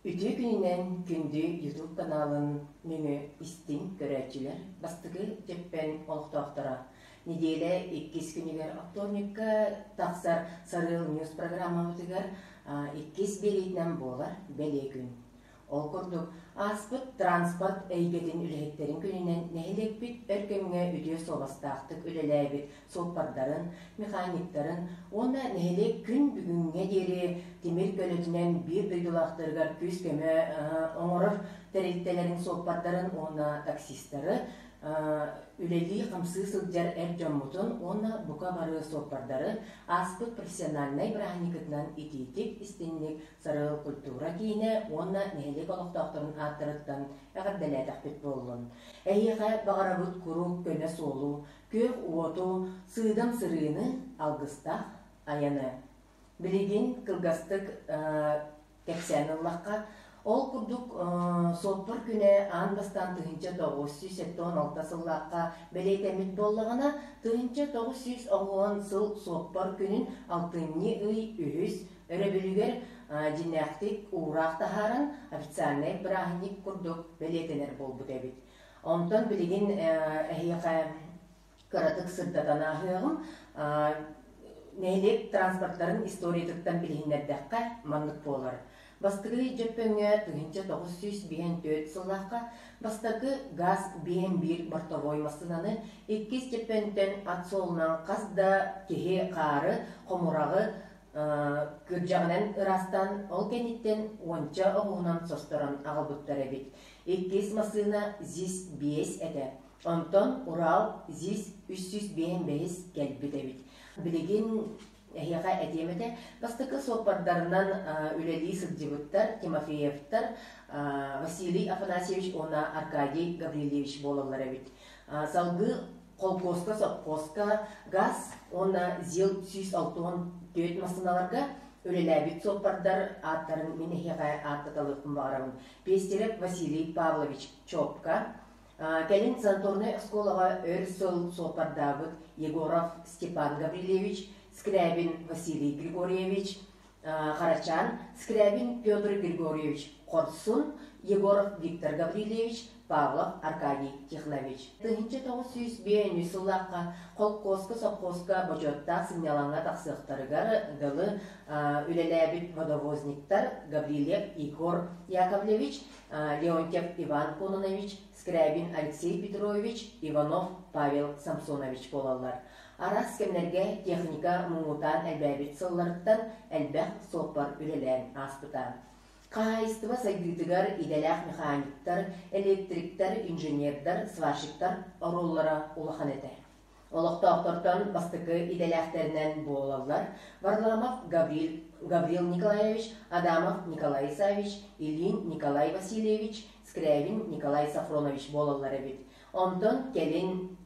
Үтүө күнүнэн күндү ютуб каналын нөҥүө истиҥ көрөөччүлэр бастакы дьэппэн олохтоохторо нэдиэлэ иккис күнүгэр вторникка тахсар Сарыал Ньюс программабытыгар иккис биэриитинэн буолар бэлиэ күн. Ол курдук ааспыт транспорт эйгэтин үлэһиттэрин күнүнэн нэһилиэкпит өр кэмҥэ үтүө суобастаахтык үлэлээбит суоппардарын, механиктарын уонна нэһилиэк күн бүгүҥҥэ диэри тимир көлөтүнэн биир дойдулаахтарыгар күүс-көмө оҥорор тэрилтэлэрин суоппардарын уонна таксистары үлэлии-хамсыы сылдьар эр дьоммутун уонна бука бары суоппардары ааспыт профессиональнай бырааһынньыкытынан итиитик, истинник сарыл культура киинэ уонна нэһилиэк олохтоохторун ааттарыттан эҕэрдэлээтэхпит буоллун. Эһиэхэ баҕарабыт куруук көмө суолу, күөх уоту, сыыдам сырыыны, алгыстаах айаны. Билигин кылгастык кэпсээн ыллахха, ол курдук суоппар күнэ аан бастаан тыһыынча тоҕус сүүс сэттэ он алта сыллаахха бэлиэтэммит буоллаҕына, тыһыынча тоҕус сүүс оҕуһун сыл суоппар күнүн алтынньы ый үһүс өрөбүлүгэр дьиҥнээхтик уураах таһааран официальнай бырааһынньык курдук бэлиэтэнэр буолбут эбит. Онтон билигин эһиэхэ кыратык сырдатан ааһыаҕым. Нэһилиэк транспортарын историятыттан билиһиннэрдэххэ маннык буолар. Бастакы Дьөппөҥҥө тыһыынча тоҕус сүүс биэһэн түөрт сыллаахха бастакы газ биэһэн биир бортовой массыынаны иккис Дьөппөнтөн ат суолунан хас да киһи хаары, хомураҕы кырдьаҕынан ыраастаан, ол кэнниттэн уонча оҕуһунан состорон аҕалбыттар эбит. Иккис массыына ЗИС биэс этэ, онтон Урал ЗИС үс сүүс биэһинбэһис кэлбит эбит. Билигин эһиэхэ этиэм этэ, бастакы суоппардарынан үлэлии сылдьыбыттар Тимофеевтар Василий Афанасьевич уонна Аркадий Гаврильевич буолаллар эбит. Салгыы холкуоска, сопхуоска газ уонна ЗИЛ сүүс алтыон түөрт массыыналарга үлэлээбит суоппардар ааттарын мин эһиэхэ ааттаталыахпын баҕарабын. Пестерев Василий Павлович Чопка, кэлин Санторнай оскуолаҕа өр сыл суоппардаабыт Егоров Степан Гаврильевич, Скрябин Василий Григорьевич, Харачаан, Скрябин Петр Григорьевич Хорсун, Егоров Виктор Гаврильевич, Павлов Аркадий Тихлович. Тыһынча тоҕус сүүс биэс сыллаахха холкуоска-совхозка бочуоттаах сынньалаҥҥа тахсыахтарыгар дылы үлэлээбит модовозниктар Гаврильев Егор Яковлевич, Леонтьев Иван Кононович, Скрябин Алексей Петрович, Иванов Павел Самсонович буолаллар. Арас кэмнэргэ техника муҥутаан элбээбит сылларыттан элбэх суоппар үлэлээн ааспыта. Хаһаайыстыба сайдыытыгар идэлээх механиктар, электриктэр, инженердэр, сварщиктар оруоллара улахан этэ. Олохтоохтортон бастакы идэлээхтэринэн буолаллар Варламов Гаврил, Гаврил Николаевич, Адамов Николай Исаевич, Ильин Николай Васильевич, Скрябин Николай Сафронович буолаллар эбит. Онтон кэлин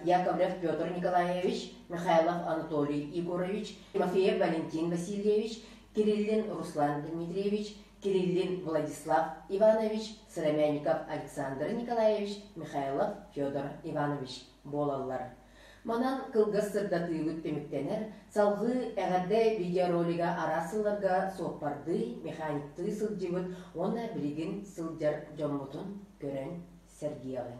Яковлев Петр Николаевич, Михайлов Анатолий Егорович, Тимофеев Валентин Васильевич, Кириллин Руслан Дмитриевич, Кириллин Владислав Иванович, Сыромянников Александр Николаевич, Михайлов Федор Иванович буолаллар. Манан кылгас сырдатыыбыт түмүктэнэр, салҕыы эҕэрдэ видеоролига араас сылларга суоппардыы, механиктыы сылдьыбыт уонна билигин сылдьар дьоммутун көрөн сэргиэҕиҥ.